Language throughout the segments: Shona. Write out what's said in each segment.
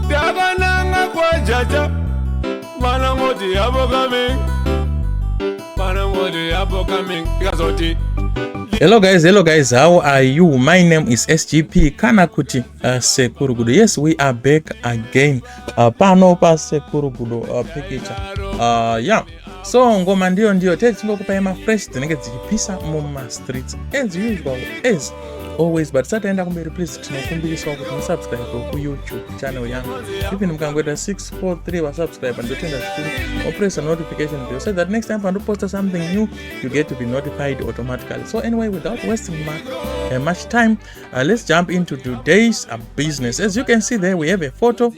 Takananga kwa jaja Mana moti yabo coming Mana moti yabo coming Ikazoti Hello guys, hello guys, how are you? My name is SGP kana kuti uh, Sekuru Gudo. Yes, we are back again. Uh, pano pa Sekuru Gudo uh, picture. Uh, yeah. so ngoma ndiyo ndiyo tee tichingokupai mafresh dzinenge dzichipisa mumastreets as usual as always but tisati aenda kumberi please tinokumbiriswa kuti musubscribe kuyoutube channel yangu even mukangoita 643 vasubscribe ndotenda zvikuru opressa notification bell so that next time pandoposta something new you get to be notified automatically so anyway without wasting my, uh, eh, much time uh, let's jump into today's uh, business as you can see there we have a photo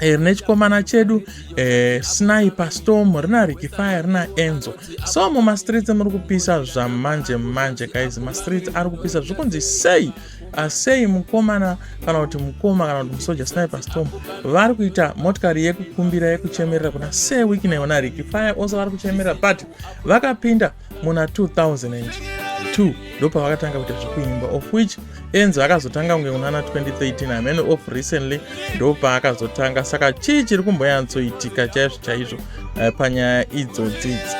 rine eh, chikomana chedu eh, sniper storm rina rikifaya rina enzo so mumastreets muri kupisa zvamanje manje guys mastreets ari kupisa zvikunzi sei ah, sei mukomana kana kuti mukoma kana kuti musoja sniper storm vari kuita motikari yekukumbira yekuchemerera kuna sei wiki naiona rikifaya also vari kuchemerera but vakapinda muna 2002 ndopavakatanga kuita zvekuimba of which enzo akazotanga kunge kunana 2013 amene of recently ndopaakazotanga saka chii chiri kumboyantsoitika chaizvo chaizvo eh, panyaya idzodzidzi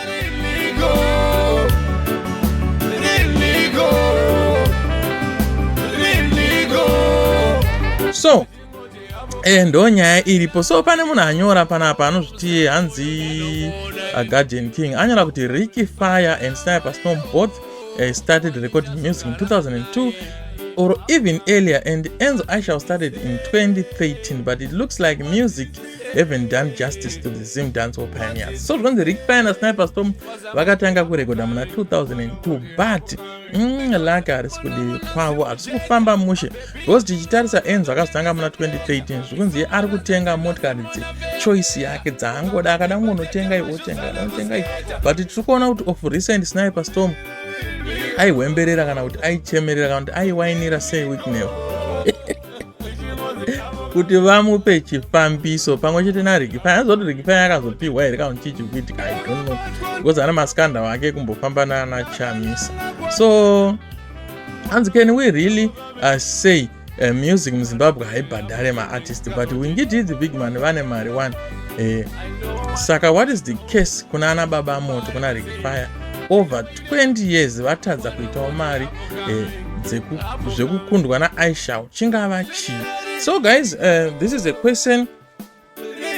so eh, ndo nyaya iripo so pane munhu anyora panapa anozviti hanzi aguardian uh, king anyora kuti ricky fire and sniper storm both uh, started recording music in 2002 or even earlier and enzo aishal started in 2013 but it looks like music haven't done justice to the zim dancehall pioneers so zvinonzi ricky fire nasniper storm vakatanga kurekodha muna 2002 but Mm, lake harisi kudivi kwavo harisi kufamba mushe because tichitarisa enzo akazotanga muna 2013 zvikunzi ye ari kutenga motikari dze choice yake dzaangoda akada kungonotenga iwe otenga anotenga i but tiri kuona kuti of recent sniper storm aihwemberera kana kuti aichemerera kana kuti aiwainira sei weeknew kuti vamupe chifambiso pamwe chete nariki fai azoti riki fai akazopiwa here kaunti chichi kuiti kaidono because ana maskanda wake kumbofamba nana chamisa so hanzi can we really uh, say uh, music muzimbabwe haibhadhare maartist but wingiti the big man vane mari one eh, saka what is the case kuna ana baba moto kuna riki fire over 20 years vatadza kuitawo mari eh, zvekukundwa naaishal chingava chii so guys uh, this is a question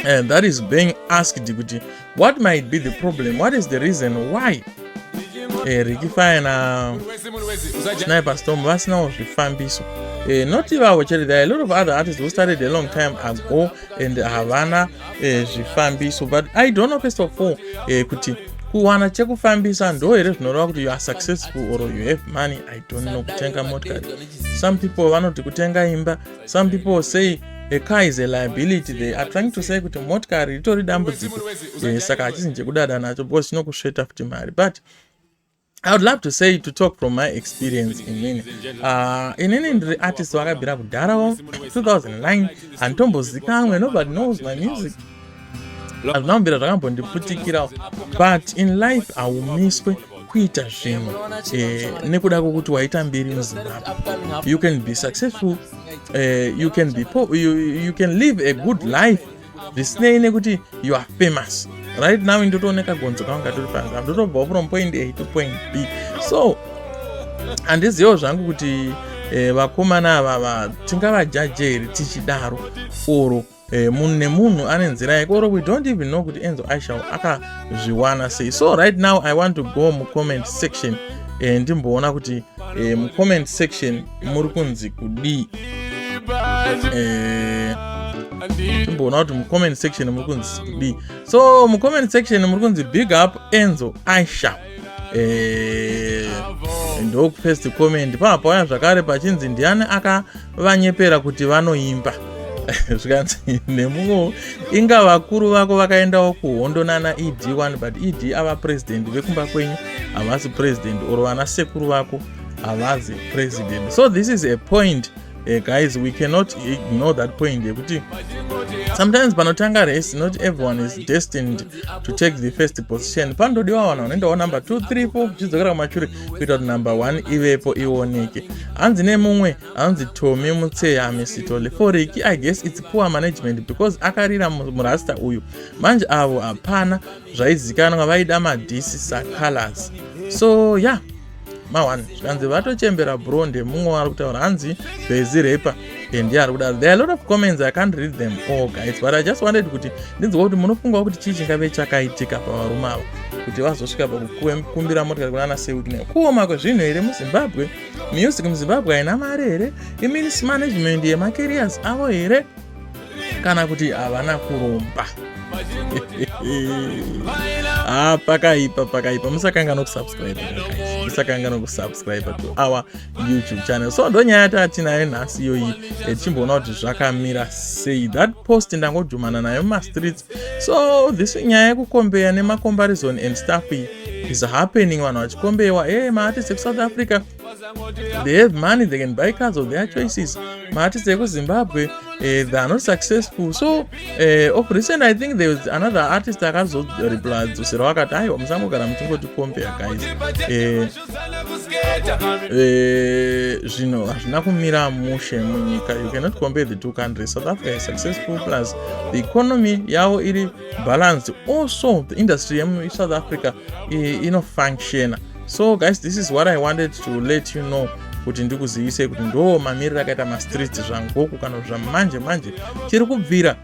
uh, that is being asked kuti what might be the problem what is the reason why eh, ricky fire na sniper storm vasinawo zvifambiso eh, not ivavo chete there are a lot of other artists who started a long time ago and havana eh, zvifambiso but i don't know first of all eh, kuti kuwana chekufambisa ndo here zvinoreva kuti you are successful or you have money i don't know kutenga motikari some people vanoti kutenga imba some people say a car is a liability they are trying to say kuti motikari ritori dambudziko eh, saka hachisi njekudada nacho because chinokusveta futi mari but I would love to say to talk from my experience inini uh, inini ndiri artist wakabvira kudhara wa 2009 handitombozikamwe nobody knows my music azvinambira zvakambondiputikirawo but in life haumiswe kuita zvinhu eh, nekuda kwokuti waita mbiri muzimbabwe you can be successful eh, you can be poor you, you can live a good life zvisinei nekuti you are famous right now ndotoone kagonzo kangu katori panzi ndotobvawo from point a to point b so handizivewo zvangu kuti eh, vakomana e, ava va, tingavajaje here tichidaro or eh, munhu nemunhu ane nzira yake or we don't even know kuti enzo aishal akazviwana sei so right now i want to go mucomment section eh, ndimboona kuti eh, mucomment section muri kunzi kudii eh, imboona kuti mucomment section muri kunzi kudii so mucomment section muri kunzi big up enzo aisha eh, ndokufirst comment pava pauya zvakare pachinzi ndiani akavanyepera kuti vanoimba zvikanzi nemumwewo inga vakuru vako vakaendawo kuhondo nana ed1 but ed ava president vekumba kwenyu havasi president or vana sekuru vako havazi president so this is a point uh, guys we cannot ignore that point yekuti sometimes panotanga race not everyone is destined to take the first position panotodiwa vanhu vanoendawo number 2 3 4 zvichidzokera kumashure kuita kuti number 1 ivepo ioneke hanzi nemumwe hanzi tomi mutseya misitole foriki i guess its poor management because akarira murasta uyu manje avo hapana zvaizikanwa vaida madhisi sacolors so ya yeah. mawan zvikanzi vatochembera bro ndemumwe waari kutaura hanzi bhezi repa and yaari kuda there are lot of comments i can't read them all guys but i just wanted kuti ndinzwa kuti munofungawo kuti chii chingave chakaitika pavarume ava kuti vazosvika pakukumbira motikari kunana sewikne kuoma kwezvinhu here muzimbabwe music muzimbabwe haina mari here imeans management yemacarriers avo here kana kuti havana kuromba ah, pakaipa pakaipa musakanga nokusubscribe musakanga nokusubscribe to our youtube channel so ndonyaya yataatinayo nhasi iyoyi eh, tichimboona kuti zvakamira sei that post ndangodhumana nayo mumastreets so this nyaya yekukombeya nemacomparison and stuff is happening vanhu vachikombewa e eh, maartist ekusouth africa they have money they can buy cars of their choices maartist ekuzimbabwe uh, they are not successful so uh, of recent i think there was another artist akazorepladzoserawo akati aiwa musangogara muchingoti compare guys eh, zvinhu uh, hazvina kumira mushe munyika you cannot compare the two countries south africa is successful plus the economy yavo iri balanced also the industry yemusouth africa inofunctiona so guys this is what i wanted to let you know kuti ndikuzivisei kuti ndo mamiriro akaita mastreets zvangoku kana kuti zvamanje manje tiri kubvira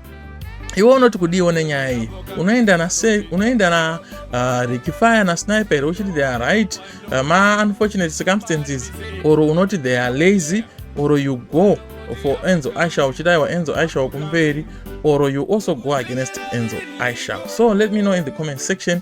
iwe unoti kudiiwo nenyaya iyi unoenda na unoenda na uh, rikifire na sniper here uchiti they are right uh, ma unfortunate circumstances or unoti they are lazy or you go for enzo isha uchidaiwa enzo isha wakumberi or you also go against enzo isha so let me know in the comment section